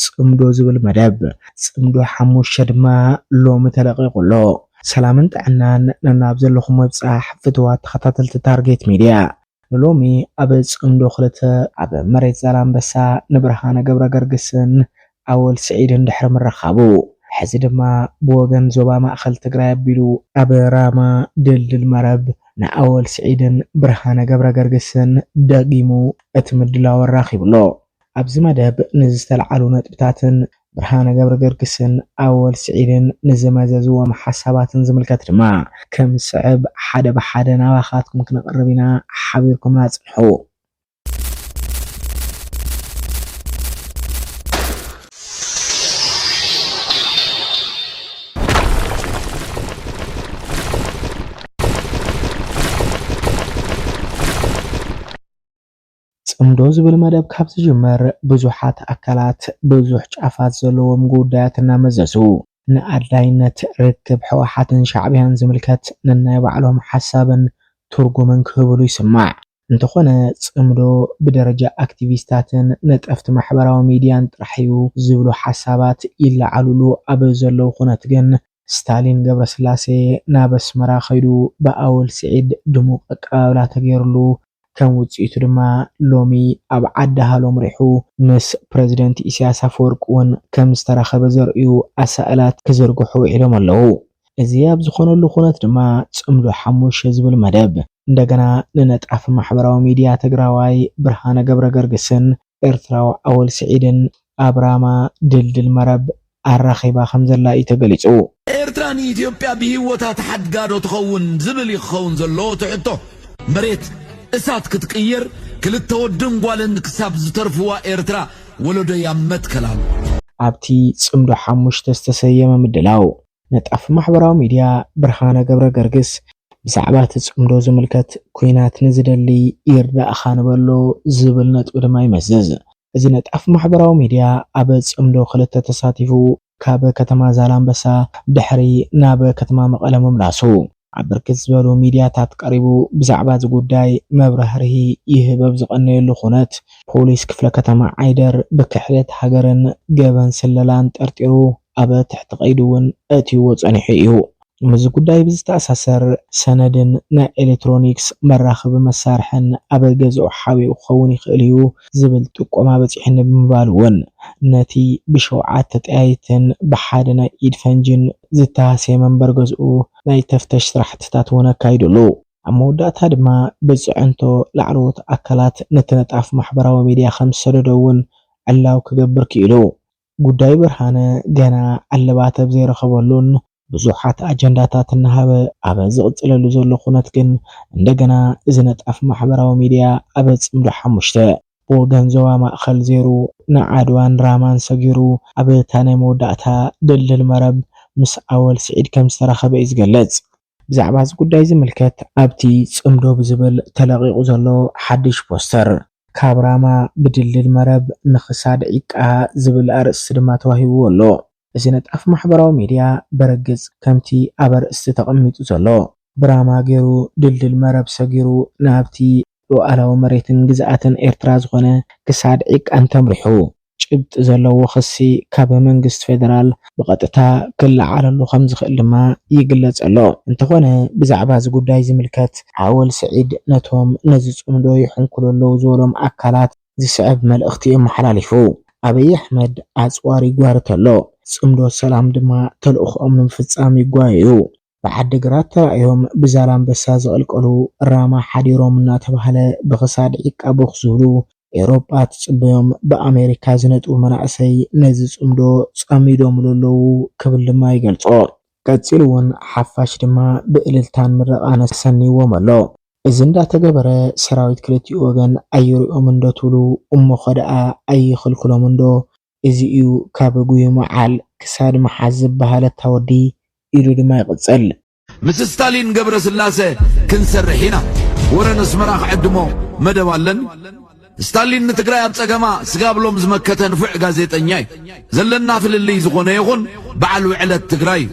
ጽምዶ ዝብል መደብ ጽምዶ ሓሙሽተ ድማ ሎሚ ተለቂቁ ኣሎ። ሰላምን ጥዕናን ነናብ ዘለኹም ምብጻሕ ፍትዋት ተኸታተልቲ ታርጌት ሚድያ። ንሎሚ ኣብ ጽምዶ ክልተ፣ ኣብ መሬት ዛላምበሳ ንብርሃነ ገብረገርግስን ኣወል ስዒድን ድሕሪ ምርኻቡ ሕዚ ድማ ብወገን ዞባ ማእኸል ትግራይ ኣቢሉ፣ ኣብ ራማ ድልድል መረብ ንኣወል ስዒድን ብርሃነ ገብረገርግስን ደጊሙ እቲ ምድላው ኣራኺቡ ኣሎ። ኣብዚ መደብ ንዝተልዓሉ ነጥብታትን ብርሃነ ገብረገርግስን ኣወል ስዒድን ንዘመዘዝዎም ሓሳባትን ዝምልከት ድማ ከም ዝስዕብ ሓደ ብሓደ ናባኻትኩም ክነቕርብ ኢና፣ ሓቢርኩምና ጽንሑ። ጽምዶ ዝብል መደብ ካብ ዝጅመር ብዙሓት ኣካላት ብዙሕ ጫፋት ዘለዎም ጉዳያት እናመዘዙ ንኣድላይነት ርክብ ህወሓትን ሻዕብያን ዝምልከት ነናይ ባዕሎም ሓሳብን ትርጉምን ክህብሉ ይስማዕ። እንተኾነ ጽምዶ ብደረጃ ኣክቲቪስታትን ነጠፍቲ ማሕበራዊ ሚድያን ጥራሕ እዩ ዝብሉ ሓሳባት ይለዓሉሉ ኣብ ዘለዉ ኩነት ግን፣ ስታሊን ገብረስላሴ ናብ ኣስመራ ከይዱ ብኣወል ስዒድ ድሙቕ ኣቀባብላ ተገይርሉ። ከም ውጽኢቱ ድማ ሎሚ ኣብ ዓዲ ሃሎ ኣምሪሑ ምስ ፕረዚደንት ኢሳያስ ኣፈወርቂ'ውን ከም ዝተራኸበ ዘርእዩ ኣሳእላት ክዝርግሑ ውዒሎም ኣለዉ። እዚ ኣብ ዝኾነሉ ኩነት ድማ ጽምዶ ሓሙሽተ ዝብል መደብ እንደገና ንነጣፊ ማሕበራዊ ሚድያ ትግራዋይ ብርሃነ ገብረገርግስን ኤርትራዊ ኣወል ስዒድን ኣብ ራማ ድልድል መረብ ኣራኺባ ከምዘላ እዩ ተገሊጹ። ኤርትራ ንኢትዮጵያ ብሂወታ ትሓድጋ ዶ ትኸውን ዝብል እዩ ክኸውን ዘለዎ እቲ ሕቶ። መሬት እሳት ክትቅየር ክልተ ወድን ጓልን ክሳብ ዝተርፍዋ ኤርትራ ወለዶይ ኣብ መትከል ኣሎ። ኣብቲ ጽምዶ ሓሙሽተ ዝተሰየመ ምድላው፣ ነጣፊ ማሕበራዊ ሚድያ ብርሃነ ገብረገርግስ ብዛዕባ እቲ ጽምዶ ዝምልከት ኲናት ንዝደሊ ይርዳእኻ ንበሎ ዝብል ነጥቢ ድማ ይመዝዝ። እዚ ነጣፍ ማሕበራዊ ሚድያ ኣብ ፅምዶ ክልተ ተሳቲፉ ካብ ከተማ ዛላምበሳ ድሕሪ ናብ ከተማ መቐለ ምምላሱ ኣብ ብርክት ዝበሉ ሚድያታት ቀሪቡ ብዛዕባ እዚ ጉዳይ መብራህርሂ ይህብ ኣብ ዝቐነየሉ ኩነት ፖሊስ ክፍለ ከተማ ዓይደር ብክሕደት ሃገርን ገበን ስለላን ጠርጢሩ ኣብ ትሕቲ ቀይዲ እውን ኣእትይዎ ፀኒሑ እዩ። ምስዚ ጉዳይ ብዝተኣሳሰር ሰነድን ናይ ኤሌክትሮኒክስ መራኸቢ መሳርሕን ኣብ ገዝኡ ሓቢኡ ክኸውን ይኽእል እዩ ዝብል ጥቆማ በፂሑኒ ብምባል እውን ነቲ ብሸውዓተ ጠያይትን ብሓደ ናይ ኢድ ፈንጂን ዝተሃስየ መንበሪ ገዝኡ ናይ ተፍተሽ ስራሕትታት እውን ኣካይዱሉ። ኣብ መወዳእታ ድማ ብፅዕንቶ ላዕለዎት ኣካላት ነቲ ነጣፍ ማሕበራዊ ሚዲያ ከምዝሰደዶ እውን ዕላዊ ክገብር ክኢሉ። ጉዳይ ብርሃነ ገና ዕልባት ኣብ ዘይረኸበሉን ብዙሓት ኣጀንዳታት እናሃበ ኣብ ዝቕፅለሉ ዘሎ ኩነት ግን እንደገና እዚ ነጣፍ ማሕበራዊ ሚዲያ ኣብ ፅምዶ ሓሙሽተ ብወገን ዞባ ማእኸል ዘይሩ ንዓድዋን ራማን ሰጊሩ ኣብ እታ ናይ መወዳእታ ድልድል መረብ ምስ ኣወል ስዒድ ከምዝተራኸበ እዩ ዝገልፅ። ብዛዕባ እዚ ጉዳይ ዝምልከት ኣብቲ ጽምዶ ብዝብል ተለቒቑ ዘሎ ሓድሽ ፖስተር፣ ካብ ራማ ብድልድል መረብ ንኽሳድ ዒቃ ዝብል ኣርእስቲ ድማ ተዋሂብዎ ኣሎ። እዚ ነጣፊ ማሕበራዊ ሚድያ ብርግጽ ከምቲ ኣብ ኣርእስቲ ተቐሚጡ ዘሎ ብራማ ገይሩ ድልድል መረብ ሰጊሩ ናብቲ ሉኣላዊ መሬትን ግዝኣትን ኤርትራ ዝኾነ ክሳድ ዒቃ እንተምሪሑ ጭብጢ ዘለዎ ክሲ ካብ መንግስቲ ፌደራል ብቐጥታ ክለዓለሉ ከምዝኽእል ድማ ይግለጽ ኣሎ። እንተኾነ ብዛዕባ እዚ ጉዳይ ዝምልከት ኣወል ስዒድ ነቶም ነዚ ጽምዶ ይሕንኩሉ ኣለዉ ዝበሎም ኣካላት ዝስዕብ መልእኽቲ ኣመሓላሊፉ። ኣብይ ኣሕመድ ኣጽዋር ይጓርት ኣሎ፣ ጽምዶ ሰላም ድማ ተልእኾኦም ንምፍጻም ይጓየዩ። ብዓዲግራት ተራእዮም ብዛላምበሳ ዝቕልቀሉ ራማ ሓዲሮም እናተባህለ ብኽሳድ ዒቃ ቦኽ ዝብሉ ኤውሮጳ ትጽበዮም ብኣሜሪካ ዝነጥቡ መናእሰይ ነዚ ጽምዶ ጸሚዶምሉ ኣለዉ ክብል ድማ ይገልጾ። ቀጺሉ እውን ሓፋሽ ድማ ብእልልታን ምረቓን ኣሰንይዎም ኣሎ። እዚ እንዳተገበረ ሰራዊት ክልቲኡ ወገን ኣይሪኦምንዶ ትብሉ እሞኸደኣ ኣይኽልክሎምንዶ እዚ እዩ ካብ ጉይሞ ዓል ክሳድ ምሓዝ ዝበሃል እታ ወዲ ኢሉ ድማ ይቕጽል። ምስ ስታሊን ገብረስላሰ ክንሰርሕ ኢና ወረ ነስመራ ክዕድሞ መደብ ኣለኒ ስታሊን ንትግራይ ኣብ ጸገማ ስጋብ ሎም ዝመከተ ንፉዕ ጋዜጠኛ እዩ ዘለና ፍልልይ ዝኾነ ይኹን በዓል ውዕለት ትግራይ እዩ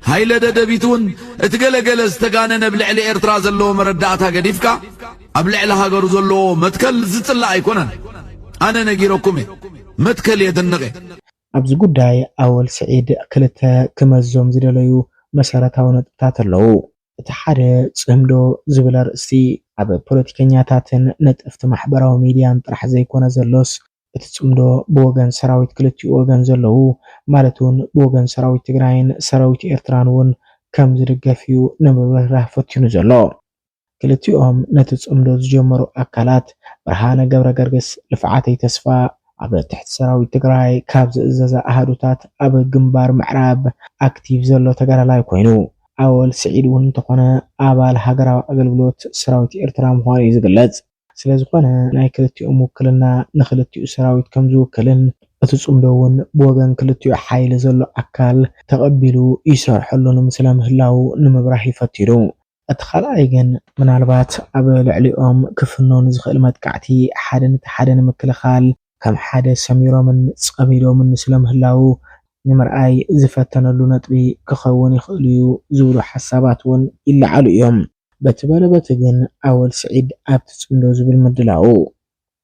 ሃይለ ደደቢት ውን እቲ ገለ ገለ ዝተጋነነ ብልዕሊ ኤርትራ ዘለዎ መረዳእታ ገዲፍካ ኣብ ልዕሊ ሃገሩ ዘለዎ መትከል ዝጽላእ ኣይኮነን ኣነ ነጊረኩም እየ መትከል የድንቅ እየ። ኣብዚ ጉዳይ ኣወል ስዒድ ክልተ ክመዞም ዝደለዩ መሰረታዊ ነጥብታት ኣለዉ። እቲ ሓደ ጽምዶ ዝብል ኣርእስቲ ኣብ ፖለቲከኛታትን ነጠፍቲ ማሕበራዊ ሚድያን ጥራሕ ዘይኮነ ዘሎስ እቲ ጽምዶ ብወገን ሰራዊት ክልቲኡ ወገን ዘለዉ ማለት ውን ብወገን ሰራዊት ትግራይን ሰራዊት ኤርትራን ውን ከም ዝድገፍ እዩ ንምብርህራህ ፈቲኑ ዘሎ። ክልቲኦም ነቲ ጽምዶ ዝጀመሩ ኣካላት ብርሃነ ገብረገርግስ፣ ልፍዓተይ ተስፋ፣ ኣብ ትሕቲ ሰራዊት ትግራይ ካብ ዝእዘዛ ኣሃዱታት ኣብ ግንባር ምዕራብ ኣክቲቭ ዘሎ ተጋዳላይ ኮይኑ፣ ኣወል ስዒድ እውን እንተኾነ ኣባል ሃገራዊ ኣገልግሎት ሰራዊት ኤርትራ ምዃኑ እዩ ዝግለጽ። ስለዝኾነ ናይ ክልቲኦም ውክልና ንክልቲኡ ሰራዊት ከምዝውክልን እቲ ጽምዶ እውን ብወገን ክልቲኡ ሓይሊ ዘሎ ኣካል ተቐቢሉ ይሰርሐሉን ስለምህላዉ ንምብራህ እዩ ፈቲኑ። እቲ ካልኣይ ግን ምናልባት ኣብ ልዕሊኦም ክፍኖ ንዝኽእል መጥቃዕቲ ሓደ ነቲ ሓደ ንምክልኻል ከም ሓደ ሰሚሮምን ጸሚዶምን ስለምህላዉ ንምርኣይ ዝፈተነሉ ነጥቢ ክኸውን ይኽእል'ዩ ዝብሉ ሓሳባት'ውን ይለዓሉ እዮም። በቲ በለ በቲ ግን ኣወል ስዒድ ኣብቲ ጽምዶ ዝብል ምድላዉ፣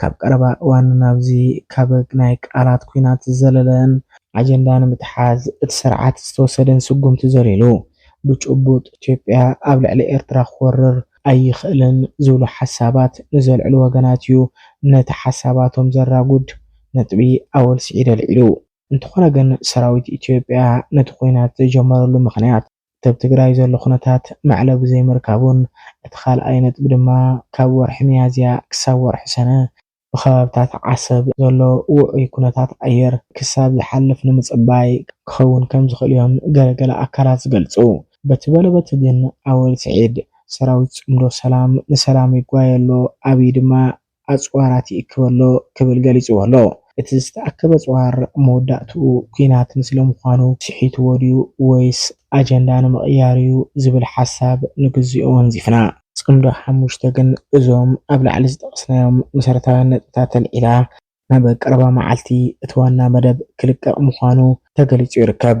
ካብ ቀረባ እዋን ናብዚ ካብ ናይ ቃላት ኲናት ዝዘለለን፣ ኣጀንዳ ንምትሓዝ እቲ ስርዓት ዝተወሰደን ስጉምቲ ዘሊሉ ብጭቡጥ ኢትዮጵያ ኣብ ልዕሊ ኤርትራ ክወርር ኣይኽእልን ዝብሉ ሓሳባት ንዘልዕሉ ወገናት እዩ ነቲ ሓሳባቶም ዘራጉድ ነጥቢ ኣወል ስዒድ ኣልዒሉ። እንተኾነ ግን ሰራዊት ኢትዮጵያ ነቲ ኲናት ዝጀመረሉ ምኽንያት፣ እቲ ኣብ ትግራይ ዘሎ ኩነታት ማዕለ ብዘይምርካቡን እቲ ካልኣይ ነጥቢ ድማ ካብ ወርሒ ሚያዝያ ክሳብ ወርሒ ሰነ ብከባብታት ዓሰብ ዘሎ ውዑይ ኩነታት ኣየር ክሳብ ዝሓልፍ ንምፅባይ ክኸውን ከምዝኽእል እዮም ገለ ገለ ኣካላት ዝገልፁ። በቲ በለ በቲ ግን ኣወል ስዒድ ሰራዊት ፅምዶ ሰላም ንሰላም ይጓየ ኣሎ ኣብይ ድማ ኣጽዋራት ይእክብ ኣሎ ክብል ገሊጽዎ ኣሎ። እቲ ዝተኣከበ ኣጽዋር መወዳእትኡ ኲናት ንስለምዃኑ ስሒትዎ ድዩ ወይስ ኣጀንዳ ንምቕያር'ዩ ዝብል ሓሳብ ንግዜኡ ወንዚፍና። ጽምዶ ሓሙሽተ ግን እዞም ኣብ ላዕሊ ዝጠቐስናዮም መሰረታውያን ነጥብታት ኣልዒላ። ናብ ቀረባ መዓልቲ እቲ ዋና መደብ ክልቀቕ ምዃኑ ተገሊጹ ይርከብ።